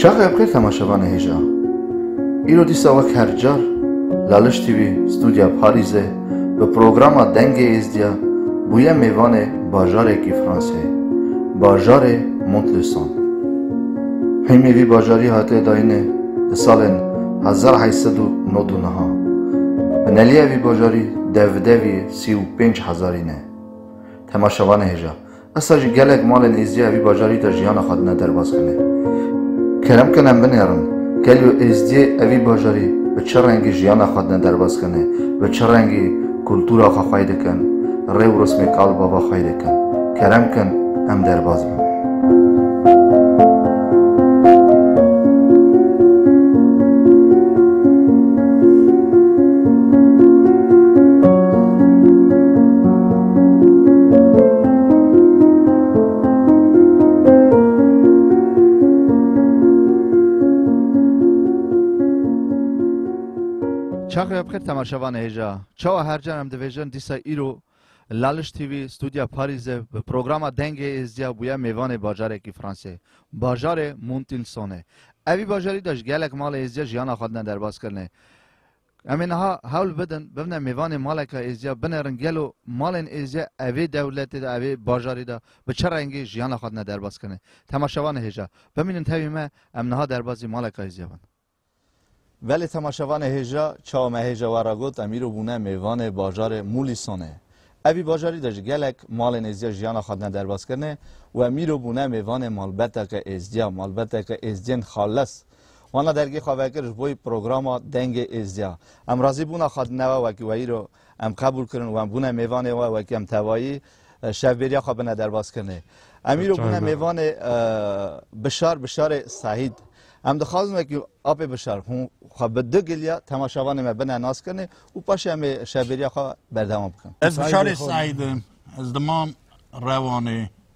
Çaxê bixêr temaşevanê hêja. Îro dîsa wek her car Laliş TV Studya Parîzê bi programa Dengê Êzdiya bûye mêvanê bajarekî Franseyê, bajarê Montluçon. Hîmî vî bajarî hatiye dayînê di salên hezar heşt sed û nod û niha. Bineliya vî bajarî dev bi devî sî û pênc hezarî ne. Temaşevanê hêja. Esta jî gelek malên Êzdiya vî bajarî de jiyana xwe dine derbas binê. Kerem kin em binêrin, gelo Êzdiyê ev vî bajarî bi çi rengî jiyana xwe dine derbas kinê, bi çi rengî kultura xwe xwey dikin, rê û rismê kal bava xwey dikin. Kerem kin em derbas bin. Çaxê bixêr temaşevan hêja. Çawa her can em dibêjin dîsa îro Laliş TV stûdya Parîzê bi programa Dengê Êzdiya bûye mêvanê bajarekî Fransê. Bajarê Montilsonê. Evî bajarî de ji gelek malê êzdiya jiyana xwe dine derbas kirine. Em ê niha hewl bidin bibne mêvanê maleka êzdiya, binerin gelo malên êzdiya evê dewletê de, evê bajarî de bi çi rengî jiyana xwe dine derbaskirinê. Temaşevan ê hêja bimînin tevî me, em niha derbazî maleka êzdiya bin. Belê temaşevan ê hêja, çawa me hêja we re got, em îro bûne mêvanê bajarê Mulîsonê. Evî bajarî de ji gelek malên êzdiya jiyana xwe dine derbaskirinê û em îro bûne mêvanê malbeteke êzdiya, malbeteke êzdiyên xalis. Wana dergî xwe vekir ji boî programa Dengê Êzdiya. Em razî bûna xwe di newe wekî we îro em qebûl kirin û em bûne mêvanê we wekî em tevayî şevbêriya xwe bine derbazkirinê. Em îro bûne mêvanê Bişar Bişarê Sahîd. Em dixwazin wekî apê Bişar hûn xwe bi du giliya temaşevanê me bine naskirinê û paşê em ê şevbêriya xwe berdewam bikin. Ez Bişarê Sahîd im. Ez dimam Rewanê.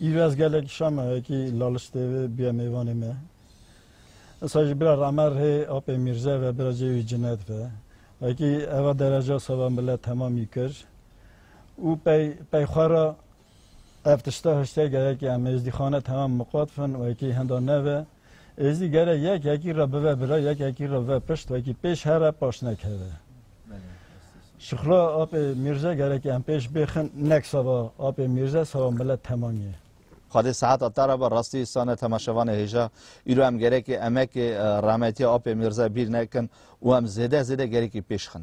Îraz gelek şama ye kî laliştê vê bîya mêvanê me. Esa jî bira Ramer hê apê Mîrze ve bira cê wî Cinet ve. Ve kî eva dereca seba milet temamî kir û pey pey xwe ra ev tişta hiştê gelekî em êzdîxane temam miqat fin wekî hinda neve. Êzî gere yek yekî re bive bira, yek yekî re bive pişt, wekî pêş here paş nekeve. Şixula apê Mîrze gerekî em pêş bêxin nek seba apê Mîrze seba milet temam ye. Xwedê sehet a tara be rastî sane temaşevanê hêja. Îro em gerekî emekê rahmetîya apê Mîrze bîr nekin û em zêde zêde gerekî pêş xin.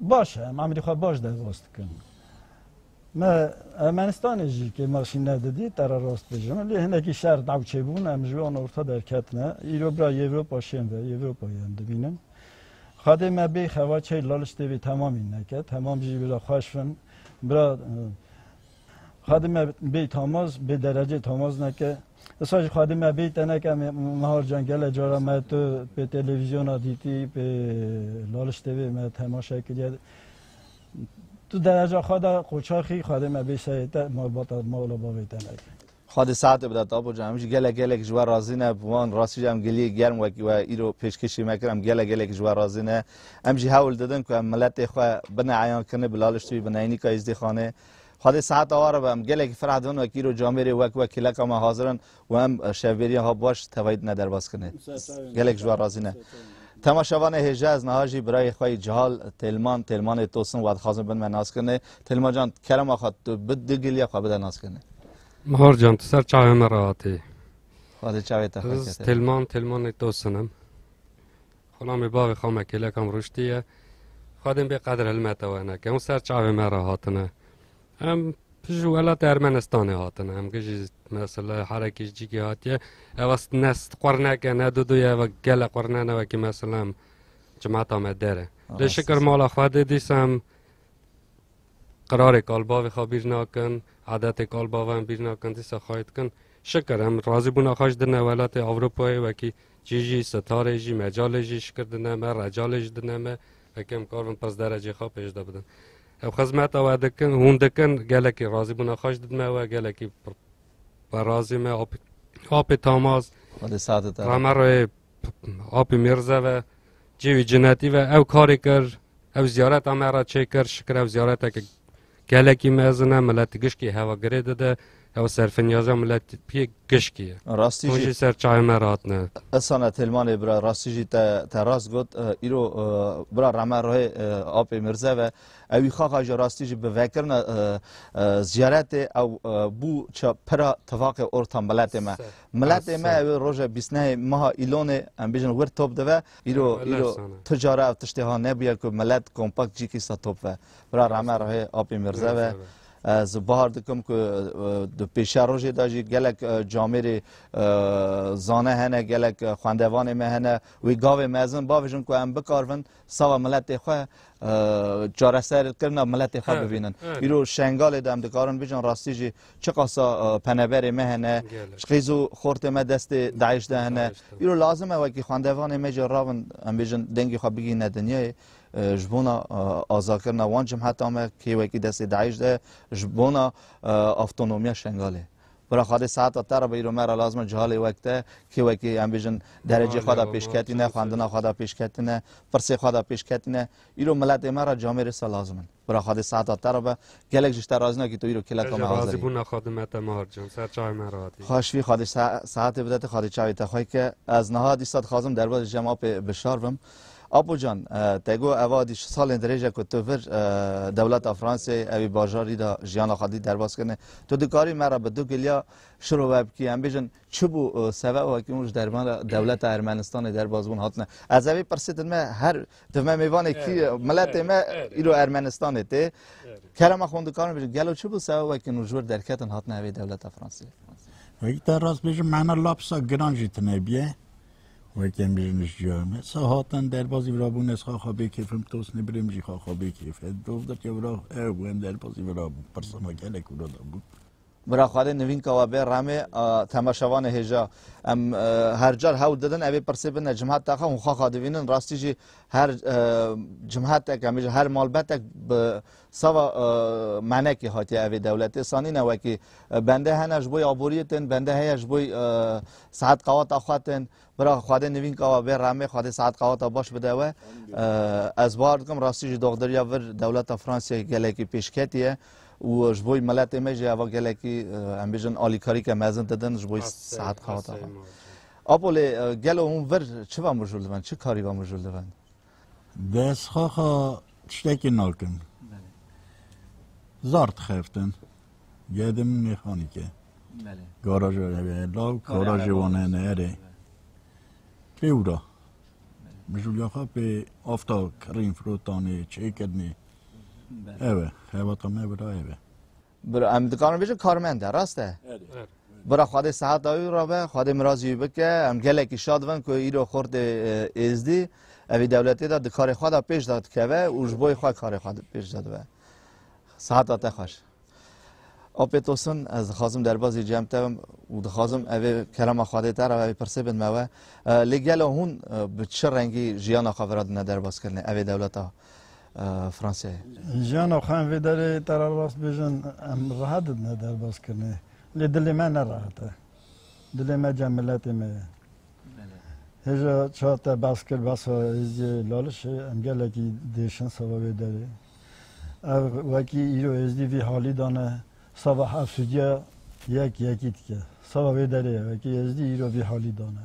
Baş e, em Amedê xwe baş derbas dikin. Me Ermenistanê jî kê me şî nedidî te re rast bêjim. Lê hinekî şer daw çêbûn em ji wan orta derketine. Îro bira Yewropa şên ve, Yewropayê em dibînin. Xadê me bê xewa çey laliştê vê temamî neke. Temam jî bira xweş bin. Bira xadê me bê tamaz, bê derecê tamaz neke. Esa ji xwedî me bêy teneke Mihar Can gele cara me tu pê televîzyona dîtî pê Laliş TV me temaşe kiriye tu dereca xwe de qoçaxî xwedê me bêy seyê te malbata mala bavê te neke. Xwedê saetê bide tapo can em jî gele gelek ji we razî ne bi wan rastî jî em giliyê germ wekî we îro pêşkêşî me kir em gele gelek ji we razî ne em jî hewl didin ku em miletê xwe bineeyan kinê bi Laliş TV bi Neynîka Îzdîxanê Xwedê seheta wa re be em gelekî ferah dibin wek îro camêrê wek wek kêleka me hazir in û em şevbêriya ha baş tevayî dine derbas kirinê. Gelek ji wan razî ne. Tema şevanê hêja ez niha jî birayê xwe yî cihal Têlman Têlmanê Tosin wa dixwazin bin me nas kirinê. Têlman can kerema xwe tu bi du giliya xwe bide nas kirinê. Mihar can tu ser çavê me re hatî. Xwedê çavê te xwe kete. Ez Têlman Têlmanê Tosin im. Xunamê bavê xwe me kêleka min rûştî ye. Xwedên bê qedir hilmete we ne. Kewin ser çavê me re hatine. Em ji welatê Ermenistanê hatine. Em gijî mesela herekî ji cîkê hatiye. Ev ne qurneke ne dudu ye ve gele qurne ne wekî mesela em cemata me dere. Lê şikir mala xwe dê dîsa em qirarê kalbavê xwe bîr nakin, adetê kalbava em bîr nakin dîsa xwe dikin. Şikir em razîbûna xwe ji dine welatê Ewropayê wekî Çî jî sitarê jî mecalê jî şikir dine me, recalê jî dine me, heke em kar bin pirs derecê xwe pêş de bidin. Ev xizmeta we dikin, hûn dikin, gelekî razîbûna xwe jî didin me we, gelekî xwe razî me. Apê Tamaz, Rameroyê Apê Mîrze ve, cêwî cinetî ve ew karê kir, ew ziyareta me re çêkir, şikir ew ziyareteke Gelekî mezin e, milet gişkî hewa girê dide, ew serfinyaja miletî gişkî ye. Rastî jî. Hûn jî ser çayê me re hatine. Isana Têlmanê bira rastî jî te te rast got. Îro bira Rame Rohê apê Mirze ve. Ewî xaxa jî rastî jî bi vekirina ziyaretê ew bû ça pira tifaqê orta miletê me. Miletê me ew ê roja bîst nehê meha Îlonê em bêjin wir top dive. Îro îro tu cara ev tiştê ha nebûye ku milet kompakt cîkî sa top ve. Bira rame rehê Apî Mirze ve. Ez bahar dikim ku di pêşiya rojê de jî gelek camêrê zane hene, gelek xwendevanê me hene. Wî gavê mezin bavêjin ku em bikarvin sava miletê xwe çareser kirina miletê xwe bibînin. Îro Şengalê de em dikarin bijin rastî jî çiqasa peneberê me hene, qîz û xortê me destê DAIŞ de hene. Îro lazim e wekî xwendevanê me jî rabin em bêjin dengê xwe bigihîne dinyayê. ji bona azakirina wan cimheta me kê wekî destê DAIŞ de ji bona avtonomiya Şengalê. Bira xwedê seheta te re bîro me re lazim e cihalê wek te kê wekî em bêjin derecê xwe de pêşketîne, xwendina xwe de pêşketîne, pirsê xwe de pêşketîne. Îro miletê me re camê rêsa lazim in. Bira xwedê saeta te re be. Gelek ji te razî nakî tu îro kêleka me hazir. Ez razî bûna xwedê me te Mar can. Ser çayê me re hatî. Xweş bî xwedê saetê bide te xwedê çayê te xwe ke. Ez niha dîsa dixwazim derbas ji cem apê bi şar bim. Apo can te got eva dî şi salên dirêj e ku tu vir dewleta Fransê evî bajarî de jiyana xwe dî derbas kirine. Tu dikarî me re bi du giliya şiro ve bikî em bêjin çi bû sebeba wekî hûn ji derman re dewleta Ermenistanê derbas bûn hatine. Ez evî pirsê din me her Di me mêvanê kî ye? Miletê me îro Ermenistanê tê. Kerema xwe dikarin bêjin. Gelo çi bû seba wekî nû ji wir derketin hatina hevê dewleta Fransiyê? Wekî te rast bêjin mehna lapsa giran jî tine biye. Wekî em bêjin ji ciya me. Sa hatin derbazî virabûn ez xaxa bê kêfim tosnê birêm jî xaxa bê kêf. Dov dike vira ew em derbazî virabûn. Pirsana gelek wira dabûn. Bira Xwedê nivînka we bê remê a temaşevanê hêja. Em her car hewl didin evê pirsê bine cimheta xwe hûn xaxa divînin rastî jî her cimhetek em jî her malbetek bi sava menekê hatiye evê dewletê sanîne wekî bende hene ji bo aboriyê tên bende heye ji bo saet qewata xwe tên Bira xwedê nivîn kawa bê remê xwedê saet qaweta baş bide we ez bar dikim rastî jî doxderiya vir dewleta Fransiyê gelekî pêşketiye û ji bo miletê me jî eva gelekî em bêjin alîkarîke mezin didin ji bo saet qaweta xwe. Apo lê gelo hûn vir çi ve mijûl dibin çi karî ve mijûl dibin? Dest xaxa tiştekî nakin. Zar dixeftin. Gedim mîxanîke. Garaja evê law garajê wan hene erê. Pê wira. Mijûliya xwe pê afta kirîn firotanê çêkirinê. Ew e xebata me bira ev e. Bira em dikarin bêjin karmend e rast e. Bira Xwedê sehet dawî ra be, Xwedê mirazî wî bike, em gelekî şad bin ku îro xortê êzdî evî dewletê de di karê xwe de pêş de dikeve û ji boyê xwe karê xwe pêş de dibe. Seheta te xweş. Opet olsun ez dixwazim derbazî cem te bim û dixwazim evê kelama Xwedê te ra evê pirsê bin me we. Lê gelo hûn bi çi rengî jiyana xwe vira dine derbazkirinê evê dewleta. Fransayê. Jiyana xwe em vê derê te re rast bêjin em reha didine derbazkirinê lê dilê me ne rehat e. Dilê me cem miletê me ye. Hêja çar te behs kir behsa Êzidiyê Lalişê em gelekî diêşin seba vê derê. Ev wekî îro Êzidî vî halî de ne seba efsûdiya yek yekî dike. Seba vê derê ye wekî Êzidî îro vî halî de ne.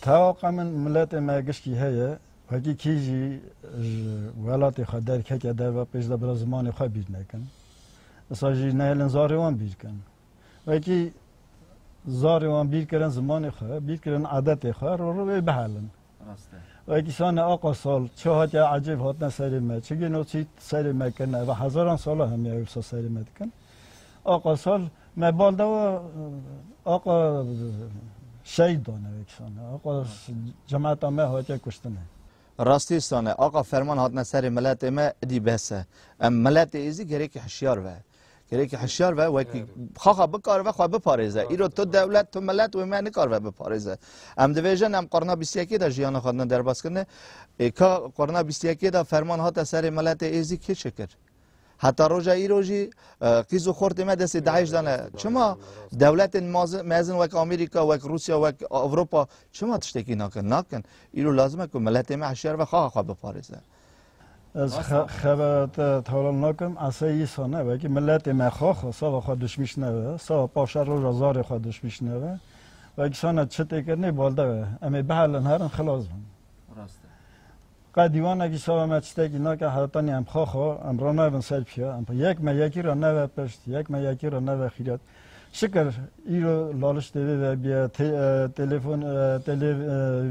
Tewaqa min miletê me giştî heye. Wekî kî jî ji welatê xwe derkeke derve pêş de bira zimanê xwe bîr nekin. Disa jî nehêlin zarê wan bîr kin. Wekî zarê wan bîr kirin zimanê xwe, bîr kirin adetê xwe, rû rû wê bihelin. Wekî sane aqa sal çi hatiye ecêb hatine serê me, çi gêno çî serê me kirine. Ev hezaran sala hemiya wisa serê me dikin. Aqa sal me bal dawa aqa şehîd dane wekisane aqa cemata me hatiye kuştine. Rastî sane aqa ferman hatine serê miletê me idî bes e. Em miletê êzî gerêkî hişyar be. Gerêkî hişyar be wekî xaxa bikaribe xwe biparêze. Îro tu dewlet tu milet wê me nikaribe biparêze. Em divêjin em qurna bîst yekê de jiyana xwe din derbas kirine. Ê ka qurna bîst yekê de ferman hate serê miletê êzî kê çi kir? Heta roja îro jî qîz û xortê me destê DAIŞ de ne. Çima dewletên mezin wek Amerîka, wek Rûsya, wek Ewropa çima tiştekî nakin? Nakin. Îro lazim e ku miletê me hişyar be xaxa xwe biparêze. Ez xebera te tewlan nakim, esê îsa ne. Wekî miletê me xaxa sava xwe dişmîş nebe, sava paşa roja zarê xwe dişmîş nebe. Wekî sana çi tê kirinê balde be. Em ê bihelin herin xilas bin. Rast e. Qe dîwana kî şava me çitekî nake heretanî em xwe xwe em ranayvin ser pîya em yek me yekî ra neve pişt yek me yekî ra neve xîret şikir îro laliş tê vê ve bîye telefon telê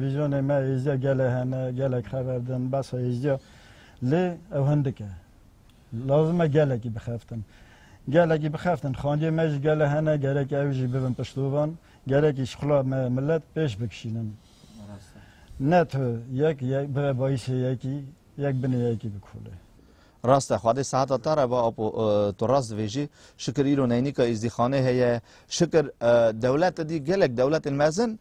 vîzyonê me êzdiya gele hene gelek xever din besa êzdiya lê ew hindik e lazim e gelekî bixeftin gelekî bixeftin xandiyê me jî gele hene gerek ew jî bibin piştovan gerekî şixula me millet pêş bikişînin Ne tu yek bire bayîşê yekî, yek binê yekî bikolê. Rast e xwedê seheta te re be Apo tu rast dibêjî. Şikir îro neynîka îzdîxanê heye. Şikir dewlete dî gelek dewletên mezin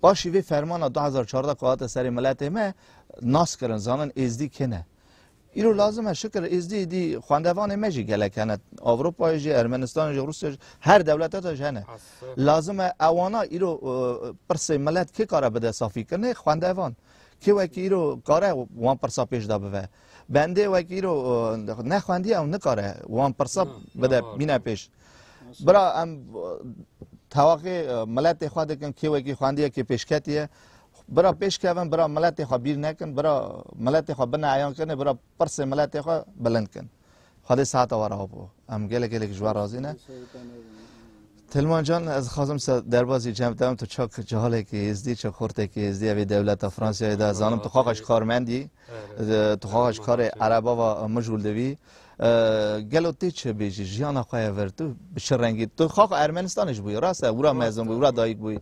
paşî vê fermana du hezar û çardeh ku hate serê miletê me nas kirin zanin êzdî kine. Îro lazim e şikir êzdî êdî xwendevanê me jî gelek hene. Ewropayê jî, Ermenistanê jî, Rûsyayê jî her dewlete de jî hene. Lazim e ewana îro pirsê milet kê kare bide safîkirinê? Xwendevan. Kê wekî îro kare wan pirsa pêş de bive. Bendê wekî îro nexwendiye ew nikare wan pirsa bide bîne pêş. Bira em tewaqê miletê xwe dikin kê wekî xwendiye kê pêşketiye. Bira pêşkevin, bira miletê xwe bîr nekin, bira miletê xwe bine eyan kinê, bira pirsê miletê xwe bilind kin. Xwedê sahata were hop o. Em gelek gelek ji we razî ne. Tilman can ez xwazim se derbasî cem te tu çak cehalekî êzdî, çak xortekî êzdî evê dewleta Fransiyayê de zanim tu xaxeş karmendî, tu xaxeş karê erebava mijûl divî. Gelo tê çi bêjî jiyana xwe ye vir tu bi çi rengî tu xaxa Ermenistanê jî bûyî rast e wira mezin bûyî wira dayîk bûyî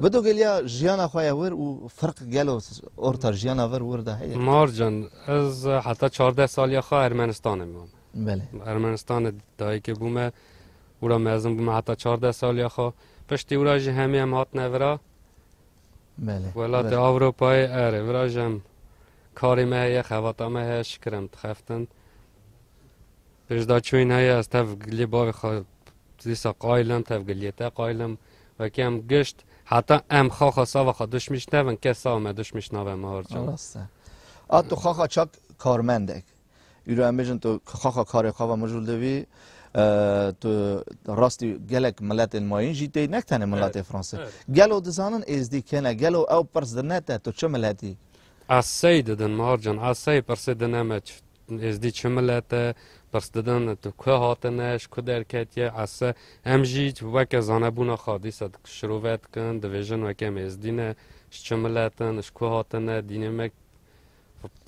bi tu geliya jiyana xwe ye wir û firq gelo orta jiyana vir wir de heye Marcan ez heta çardeh saliya xwe Ermenistanê mam Belê Ermenistanê dayîkê bûme wira mezin bûme heta çardeh saliya xwe piştî wira jî hemî em hatine vira Welatê Ewropayê erê virajan karê me heye xevata me heye şikir em dixeftin. Pêşdaçûyîn heye ez tev giliyê bavê xwe dîsa qayil im tev giliyê te qayil im. Wekî em gişt heta em xaxa sava xwe duşmîş nevin kes sava me duşmîş nave me horçand. Rast e. A tu xaxa çak karmendek Îro em bêjin tu xaxa karê xwe ve mijûl dibî. Tu rastî gelek miletên mayîn jî tê ne tenê miletê Fransa. Gelo dizanin êzdî kene, gelo ew pirs di ne te tu çi miletî? Ez sey didin Mar can, ez sey pirsê di ne me êzdî çi milet e, pirs didin tu ku hatine, ji ku derketiye, ez se. Em jî weke zanebûna xwe dîsa şirove dikin, dibêjin weke em êzdî ne, ji çi miletin, ji ku hatine, dînê me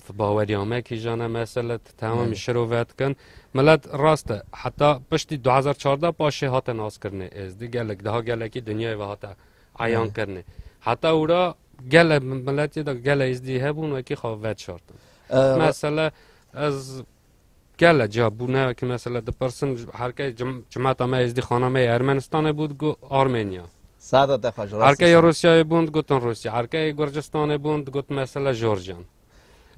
Ti baweriya me kîjan e mesela ti tewamî şiro vedikin. Milet rast e heta piştî du hezar çardeh paşê hate naskirinê êzdî gelek daha gelekî dinyayê ve hate eyan kirinê. Heta ûra gele miletê de gele êzdî hebûn wekî xwe veşartin. Mesela ez Gele ca bûne ki mesela dipirsin herke cimata me êzdî xana me yê Ermenistanê bû digo Armenya. Sada te xweş rastî. Herkeyê Rûsyayê bûn digotin Rûsya. Herkeyê Gurcistanê bûn digot mesela Jorjan.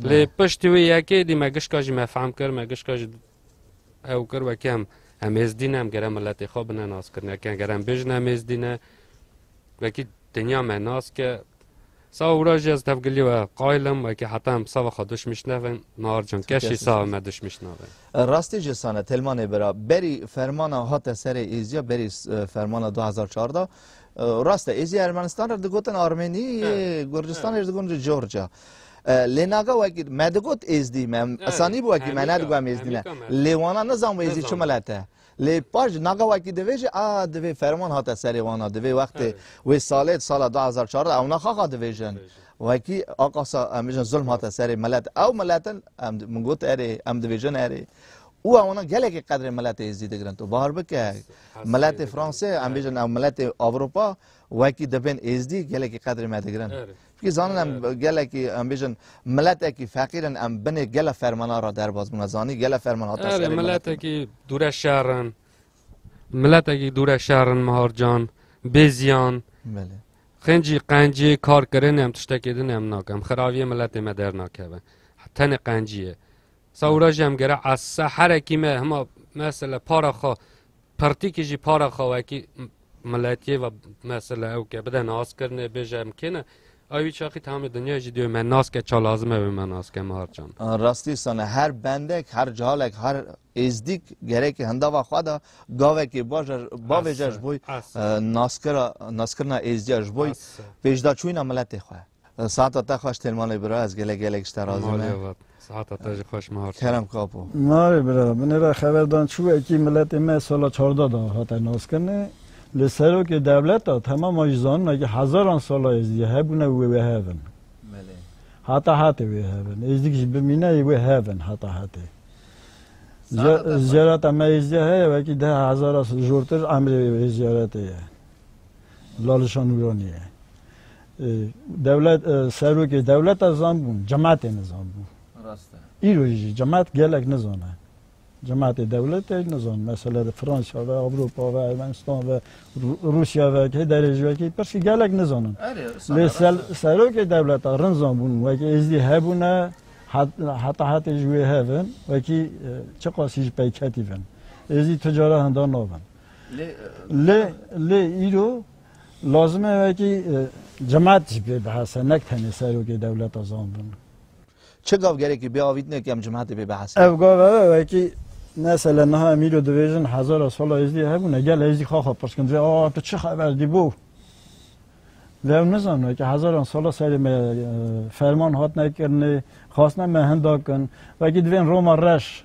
Lê piştî wî yekê dî me gişka jî me fehm kir, me gişka jî ew kir wekî em em êzdî ne em gere miletê xwe bine naskirine. Ken gere em bêjin em êzdî ne wekî dinya me naske Sawa wira jî ez tevgilî we qayl im, wekî heta em sava xwe duşmîş nevin, mar can kes jî sava me duşmîş nabe. Rastî jî sane Telmanê bira, berî fermana hate serê Êzîya, berî fermana du hezar çar de, rast e Êzî Ermenistan re digotin Armenî, Gurcistanê jî digotin Georgia. Lê naga wekî me digot Êzdî, me zanîbû wekî me nedigo em Êzdî ne. Lê wana nizanbû Êzdî çi milet e. Lê paş ji naxa wekî divê jî a divê ferman hate serê wan a divê wextê wê salê di sala du hezar çardeh ew naxa xwe divê jin wekî a qasa em bijin zulm hate serê milet ew miletin em min got erê em divê jin erê û ewana gelekî qedrê miletê êzî digirin tu bahar bike miletê fransê em bijin ew miletê avropa wekî dibên êzdî gelekî qedrê me digirin Wî zanîn em gelekî em bêjin miletekî feqîr in, em binê gele fermana re derbas bûn. Zanî gele ferman hate serê miletê. Miletekî dûre şer in. Miletekî dûre şer in Mihar Can. Bê ziyan. Belê. Xincî qencî kar kirinê em tiştekê din em nakin. Em xiraviyê miletê me dernakeve. Tenê qencî ye. Sawura jî em gere ez se herekî me hima mesela para xwe pertîkî jî para xwe wekî miletiyê ve mesela ew ke bide naskirinê bêje em kê ne ew wî çaxî tamê dinyayê jî dê me nas ke ça lazim e wê me nas ke me harçan. Rastî sane her bendek her cihalek her êzdîk gerekê hindava xwe de gavekê baş e bavêje ji bo naskira naskirina êzdiya ji bo pêşdaçûna miletê xwe. Sihata te xweş tên malê bira ez gelek gelek ji te razî me. Malê vat. Sihata te jî xweş Mihar. Kerem Kapo. Navê bira, min ê re xeber dan çû wekî miletê me sala çardeh de hate naskirinê. Lê serokê dewleta tema ma jî zanine ke hezaran sala êzidî hebûne û wê wê hev in. Belê. Heta hetê wê hev in. Êzidîk jî bimîne ê wê hev in heta hetê. Zîyareta me êzidî heye wekî deh hezara jortir emrê vê zîyaretê ye. Lalişa Nûranî ye. Dewlet serokê dewleta zan bûn, cematê nizan bû. Rast e. Îro jî cemat gelek nizane. Cematê dewletê nizan. Mesela di Fransa ve, Avrupa ve, Ermenistan ve, Rusya ve, kê derê jî wekî pirsî gelek nizanin. Lê serokê dewleta rin zan bûn wekî êzdî hebûne heta hatê ji wê hevin wekî çiqasî ji peyketî bin. Êzdî tu cara hinda nabin. Lê lê îro Lazim e wekî cemat jî pê bihese nek tenê serokê dewleta zandin. Çi gav gerekî biavîtine ke em cematê pê bihese? Ev gav ev e wekî mesele niha em îro dibêjin hezara sala Êzdî hebûne gel Êzdî xwe xwe pirs kirin dibê aa tu çi xeber dî bo? Dê ew nizanin wekî hezaran sala serê me ferman hatine kirinê, xwastine me hinda kin. Wekî divên Roma reş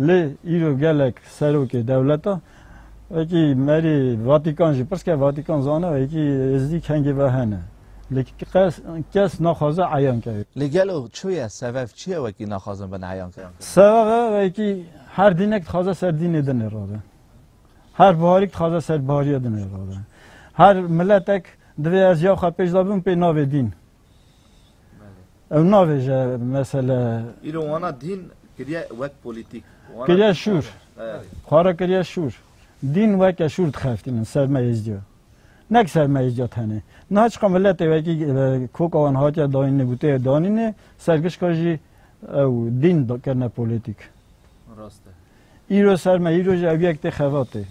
Lê îro gelek serokê dewleta wekî merê Vatikan jî pirsike Vatikan zana wekî êzdî kengê ve hene. Lê kes naxwaze eyan ke. Lê gelo çi ye sebeb çi ye wekî naxwazin bin eyan ke? Sebebe wekî her dînek dixwaze ser dînê din ê rabe. Her biharîk dixwaze ser bihariya din ê rabe. Her miletek divê ez ya xwe pêş de bim pê navê dîn. Ew navêje mesele. Îro wana dîn kiriye wek polîtîk. Kiriye şûr. Xwe re kiriye şûr. Dîn weke şûr dixeftînin ser me Êzidiyo. Nek ser me Êzidiyo tenê. Niha çiqa miletê wekî koka wan hatiye dayînê, goteyê danînê, ser gişka jî ew dîn kirine polîtîk. Rast e. Îro ser me, îro jî ew yek tê xebatê.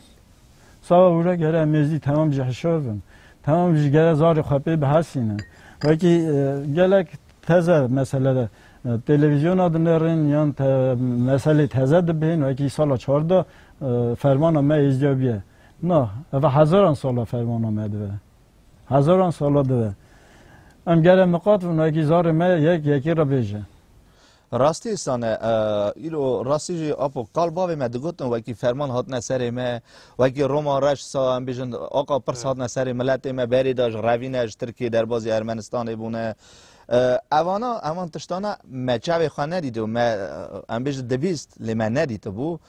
Sava hûra gere em êzî temam ji hişov in. Temam ji gere zarê xwe pê bihesînin. Wekî gelek teze mesele de televizyona dinêrin yan te meselê teze dibihên wekî sala çardeh fermana me êzdiya bûye. Na, ev hezaran sala fermana me dibe. Hezaran sala dibe. Em gere miqat bin wekî zarê me yek yekê re bêje. Rastî sane îro rastî jî apo qal bavê me digotin wekî ferman hatine serê me wekî Roma reş sa em bêjin aqa pirs hatine serê miletê me berê de ji revîne ji Tirkiyê derbazî Ermenistanê bûne evana evan tiştana me çavê xwe nedîto me em bêjin dibîst lê me nedîtibû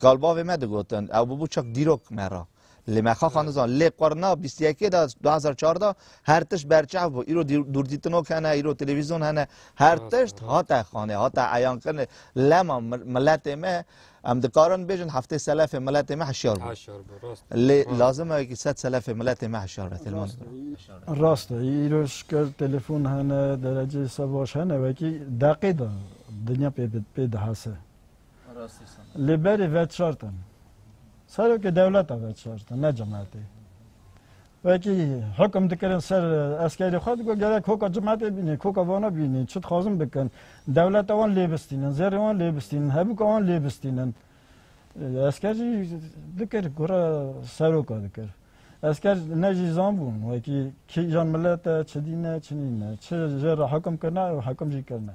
qal bavê me digotin ew bûbû çak dîrok me ra Lê me xwe xwendizan. Lê qurna bîst û yekê de du hezar û çardeh de her tişt berçav bû. Îro dûrdîtinok hene, îro televîzyon hene. Her tişt hate xwendê, hate eyankirinê. Lema miletê me, em dikarin bêjin heftê selefê miletê me hişyar bû. Lê lazim e wekî sed selefê miletê me hişyar be. Telefon e. Rast e. Îro şikir telefon hene, dereceyê savaş hene wekî deqê de dinya pê dihase. Li berî veçartin. Serokê dewleta veçartin, ne cemaatê. Wekî hukm dikirin ser eskerê xwe digo gerek hoka cemaatê bînê, hoka vana bînê, çi dixwazin bikin. Dewleta wan lêbistînin, zerê wan lêbistînin, hebûka wan lêbistînin. Esker jî dikir gora seroka dikir. Esker ne jî zan bûn wekî kîjan milete, çi dîne, çi nîne, çi jê re hukm kirine û hukm jî kirine.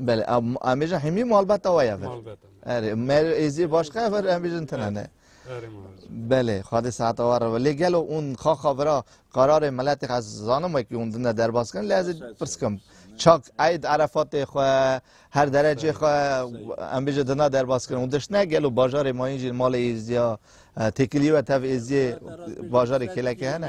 Belê, em bêjin hîmî malbeta we ye vir. Erê, mer êzî başka vir em bêjin tine ne. Belê, xwedê saeta war re. Lê gelo ûn xaxa vira kararê miletê ez zanim wekî hûn din de derbas kirin lê ez ê pirskim. Çak eyd erefatê xwe her derecê xwe em bêje dina derbas kirin. Hûn diştine gelo bajarê mayîn jî malê êziya têkilî we tev êziyê bajarê kêlekê hene.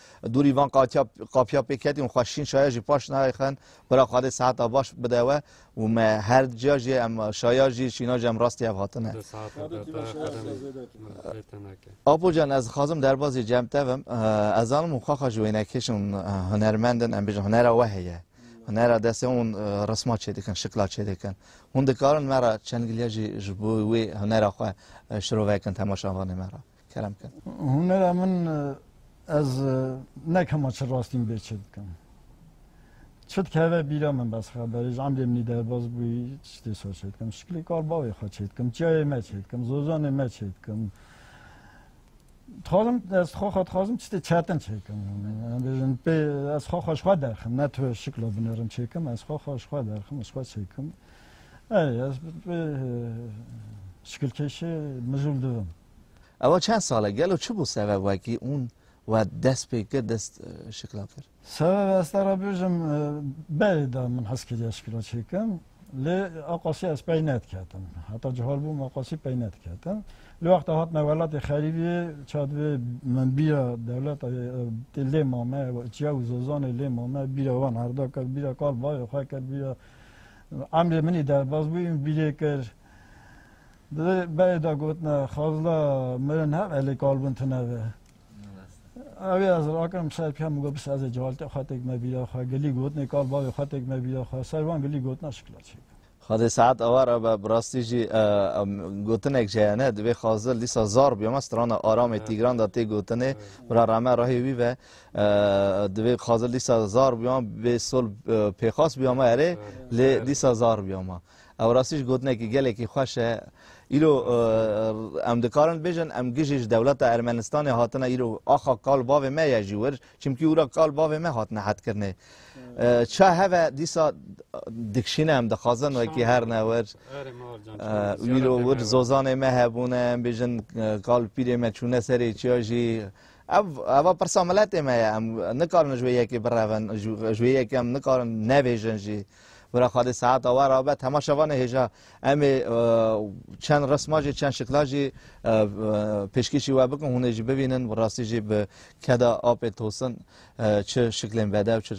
Dûrî van qapiya pê ketî û xweşîn şaya jî paş nayê xen bira xwe dê seheta baş bide we û me her dica jî em şaya jî şîna jî em rastî hev hatine. Apo can ez dixwazim derbazê cem tevim ez zanim û xaxa ji wênekêşin hunermendin em bêjin hunera we heye. Hunera destê hûn resma çêdikin, şikla çêdikin. Hûn dikarin me ra çend gilya jî ji bo wê hunera xwe şirovekin temaşavanê me ra. Kerem kir. Hunera min ez ne kema çi rastîn bê çi dikim. Çi dikeve bîra min bes xeberê ji emrê minî derbas bûyî çi tê sor çê dikim. Şiklê kar bavê xwe çê dikim, çiyayê me çê dikim, zojanê me çê dikim. Dixwazim ez xwe xwe dixwazim çi tê çetin çê dikim. Bêjin pê ez xwe xwe ji xwe derxim ne tu şikla binerim çê dikim ez xwe xwe ji xwe derxim ji xwe çê dikim. Erê ez bi vê şikilkeşê mijûl dibim. Ewa çend sal e? Gelo çi bû sebeb wekî ûn we dest pê kir, dest şikla kir? Sebeb ez te re bêjim berê de min hez kiriye şikla çêkim. Lê aqasî ez pey nediketim. Heta cihal bûm aqasî pey nediketim. Li wexta hatime welatê xerîbiyê ça divê min bîra dewleta tê lê mame, çiya û zozanê lê mame, bîra wan erdakir, bîra kal bayê xwe kir, bîra Emrê minî derbas bû û bîrê kir. Di berê de gotina xazla mirin hev elê kal bûn tune ve. Ew ê ez rakirim bi ser pîya min got bisê ez ê cewaltê xwe têk me bîra xwe gilî gotinê kal bavê xwe têk me bîra xwe ser van gilî gotina şikla çêk. Xwedê saet awa re be bi rastî jî gotinek ji hene divê xazil dîsa zar bîya me strana Aramê Tîgran de tê gotinê bira rame rahê wî ve Divê Xazil dîsa zar bûya bê sol pêxas bûya me erê lê dîsa zar bûya me. Ew rastî ji gotinekî gelekî xweş e. Îro em dikarin bêjin em gijî ji dewleta Ermenistanê hatine îro axa kal bavê me ye jî wir çimkî wira kal bavê me hatine hetkirinê. Ça heve dîsa dikişîne em dixwazin wekî her ne wir îro wir zozanê me hebûne em bêjin kal pîrê me çûne serê çiya jî Ev eva pirsa miletê me ye. Em nikarin ji wê yekê birevin, ji wê yekê em nikarin nebêjin jî. Wira xwedê saeta we ra be tema şevanê hêja em ê çend risma jî çend şikla jî pêşkêşî we bikin hûn ê jî bibînin bi rastî jî bi keda apê tosin çi şiklên bedew çi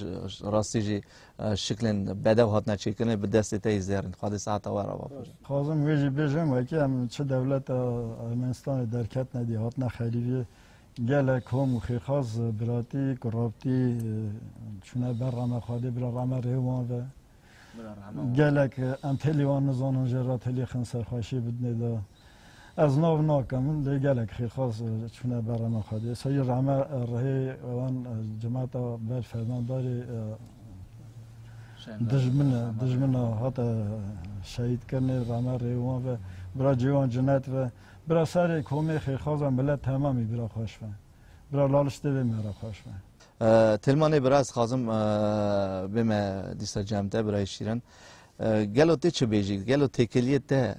rastî jî Şiklên bedew hatine çêkirinê bi destê te yî zêr in. Xwedê sehata we re bafir. Xwazim wê jî bêjim wekî em çi dewleta Ermenistanê derketine dî hatine xerîbîyê gelek kom û xêrxaz biratî ku rabtî çûne ber ra me Xwedê bila ra me rê wan ve. Gelek em telî wan nizanin jê re telî xin serxweşî bidnê de. Ez nav nake min lê gelek xêrxwaz çûne ber rema Xwedê. Serî rame rihê wan cemata ber fermandarê dijmine dijmina hate şehîd kirinê rame rê wan ve bira cê wan cinet ve bira serê komê xêrxwaza milet temamî bira xweş ve. Bira laliştê vê me re xweş ve. Tilmanê bira ez xwazim vê me dîsa cem te birayê şîrin. Gelo tê çi bêjî? Gelo têkiliyê te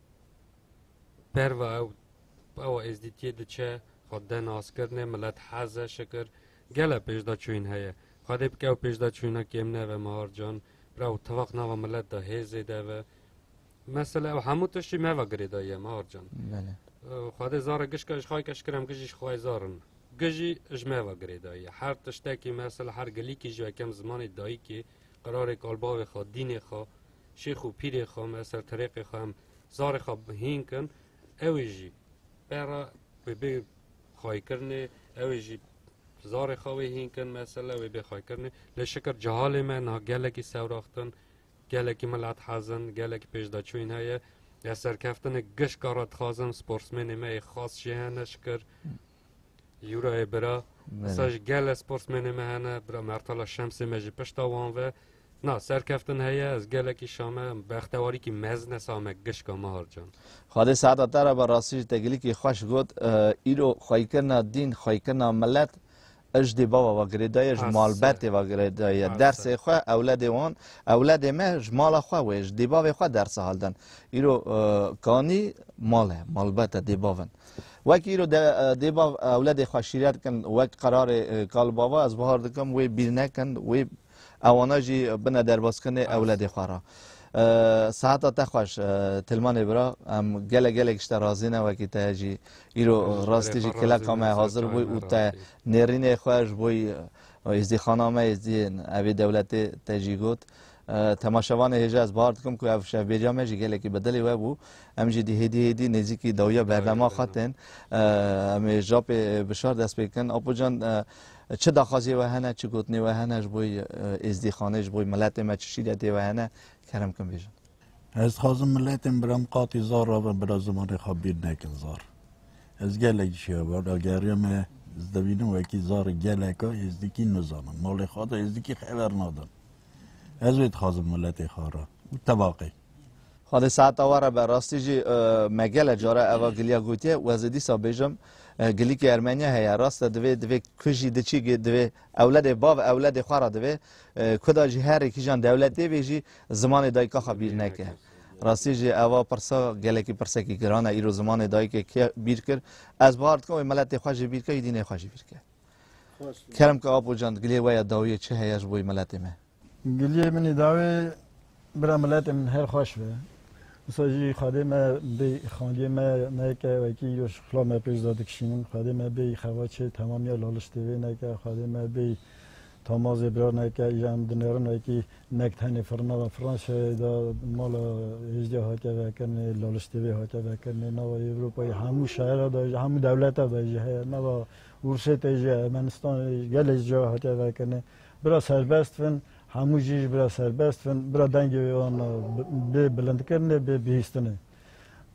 Berva ew ewa êzdîtiyê diçe, xwe de naskirinê, milet hez e şikir. Gele pêşdaçûyîn heye. Xwedê bike ew pêşdaçûyîna kêm nebe Mehar can. Bira ew tifaq nava milet de hê zêde be. Mesele ew hemû tiştî neva girêdayî ye Mehar can. Xwedê zare gişka îşxayîke şikir em gijî ji xwe yê zar in. Gijî ji me ve girêdayî ye. Her tiştekî mesele her gilîkî ji yekem zimanê dayîkê, qirarê kalbavê xwe, dînê xwe, şêx û pîrê xwe em, ez ser terêqê xwe em zarê xwe hîn kin, ew ê jî pera wê bê xaykirinê, ew ê jî zarê xwe wê hîn kin mesela wê bê xaykirinê. Lê şikir cehalê me niha gelekî sewraxtin, gelekî milet hezin, gelekî pêşdaçûyîn heye. Ya serkeftinek gişka re dixwazin sportsmênê me yê xas jê hene şikir. Yûrayê bira sa ji gele sportsmenê me hene bira Mertala Şemsê me ji pişta wan ve na serkeftin heye ez gelekî şame bextewarîkî mezin e same gişka Mahar Can. Xwedê saeta te re be rastî ji tegilikî xweş got îro xweyikirina dîn xweyikirina milet ijdi bava va girêdaye ji malbetê va girêdaye dersê xwe ewledê wan ewledê me ji mala xwe wê ji dêbavê xwe dersa haldin îro kanî male malbete dêbavin Wek îro de dê bav ewledê xwe şîret bikin wek qerarê kalbava ez bihar dikim wê bîr nekin wê ewana jî bine derbaskinê ewledê xwe ra. Seheta te xweş Tilmanê bira em gelek gelek ji te razî ne wekî te jî îro rastî jî kileka me hazir bûy û te nêrînê xwe ji bo êzdîxana me êzdîyên evê dewletê te jî got. Temaşevanê hêja ez bahar dikim ku ev şevbêriya me jî gelekî bi dilê we bû. Em jî dî hêdî hêdî nêzîkî dawiya bernama xwe tên. Em ê japê bişar dest pê bikin. Apo can çi daxwaziyê we hene, çi gotinê we hene ji bo êzdîxanê, ji bo miletê me çi şîretê we hene kerem bikin bêjin. Ez dixwazim miletên biram qatî zar rabe bila zimanê xwe bîr nekin zar. Ez gelek ji hevalageriya me ez dibînim wekî zar geleka êzdîkî nizanin. Malê xwe de êzdîkî xeber nadin. Ez wê dixwazim miletê xwe re û tebaqê. Xwedê saeta we re be. Rastî jî me gele care eva giliya gotiye û ez ê dîsa bêjim gilîkê Ermeniya heye. Rast e divê divê ku jî diçî divê ewledê bav ewledê xwe re divê ku da jî herî kîjan dewletê bê jî zimanê dayika xwe bîr neke. Rastî jî eva pirsa gelekî pirsekî giran e îro zimanê dayikê kê bîr kir? Ez bahar dikim wê miletê xwe jî bîr ke û dînê xwe jî bîr ke. Kerem ki Apo can gilê we ya dawiyê çi heye ji boî miletê me? Giliyê min îdawê bira miletê min her xweş be. Wisa jî xwedê me bê xandiyê me neke wekî îro ji xula me pêş de dikişînin. Xwedê me bê xevaçê temamiya laliştê vê neke. Xwedê me bê tamazê bira neke. Îyan dinerin wekî nek tenê firina ve. Franşayê de mala hêjdiya hatiye vekirinê laliştê vê hatiye vekirinê. Nava Ewropayê hemû şehera de jî hemû dewleta de jî heye. Nava Ursê tê ji Ermenistanê ji gelê cihê hatiye vekirinê. Bira serbest bin, hemû jî ji bira serbest bin, bira dengê wê wan bê bilindkirinê, bê bihîstinê.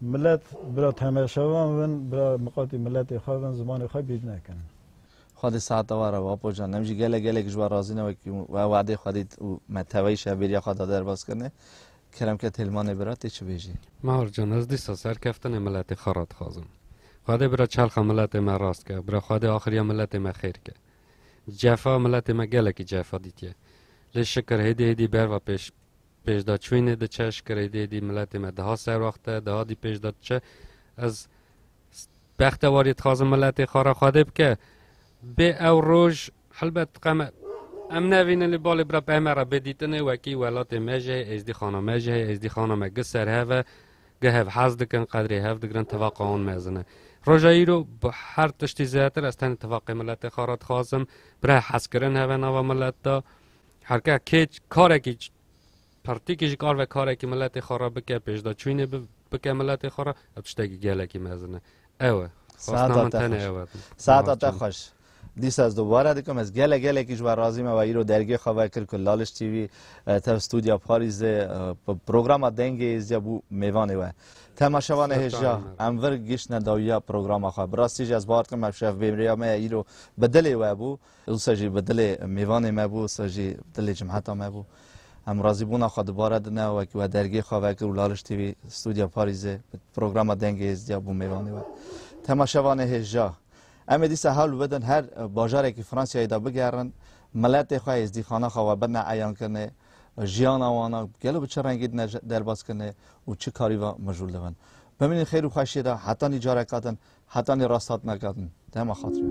Milet bira temeşevan bin, bira miqatî miletê xwe bin, zimanê xwe bîr nekin. Xwedî saeta wan re Apo Can, em jî gelek gelek ji wan razî ne wekî we wade xwe dît û me teveyî şev bêriya xwe da derbas kirinê. Keremke Têlmanê bira tê çi bêjî? Mahir Can, ez dîsa serkeftinê miletê xwe re dixwazim. Xwedê bira çalxa miletê me rast ke, bira Xwedê axiriya miletê me xêr ke. Cefa miletê me gelekî cefa dîtiye. Lê şikir hêdî hêdî berva pêş pêşda çûynê diçe, şikir hêdî hêdî miletê me diha serwaxte, diha dî pêşda diçe. Ez bexte warî dixwazim miletê xwe re Xwedê bike. Bê ew roj helbet qeme em nevînin lê balê bira peyme re bê dîtinê wekî welatê me jî heye, êzdîxana me jî heye, êzdîxana me gi serhev e. Geh hev hez dikin, qedrê hev digirin, tevaqa wan mezin e. Roja îro bi her tiştî zêdetir ez tenê tevaqê miletê xwe re dixwazim. Bi reh hezkirin heve nava milet de. Her ke kê karekî pertîkî ji kar ve karekî miletê xwe re bike, pêşdaçûnê bike miletê xwe re, ev tiştekî gelekî mezin e. Ew e. Xwestina min tenê ew e. Saeta te xweş. Dîsa ez dubare dikim ez gelek gelekî ji we razî me we îro dergê xwe vekir ku Laliş TV tev studya Parîzê programa dengê êzîya bû mêvanê we. Tema şevan e hêjiya em vir giştine dawiya programa xwe. Bi rastî jî ez bawer dikim ev şev bêmriya me ye îro bi dilê we bû. Wisa jî bi dilê mêvanê me bû, wisa jî bi dilê cemheta me bû. Em razîbûna xwe dubare dine wekî we dergê xwe vekir û Laliş TV studya Parîzê programa dengê êzîya bû mêvanê we. Tema şevan e hêjiya Em ê dîsa hewl bidin her bajarekî Fransiyayê de bigerin, miletê xwe, êzdîxana xwe we bine eyankirine, jiyana wan a gelo bi çi rengî dine derbazkirine û çi karî ve mijûl dibin. Bimînin xêr û xweşiyê de hetanî careka din, hetanî rasthatineka din. Dema xatirê.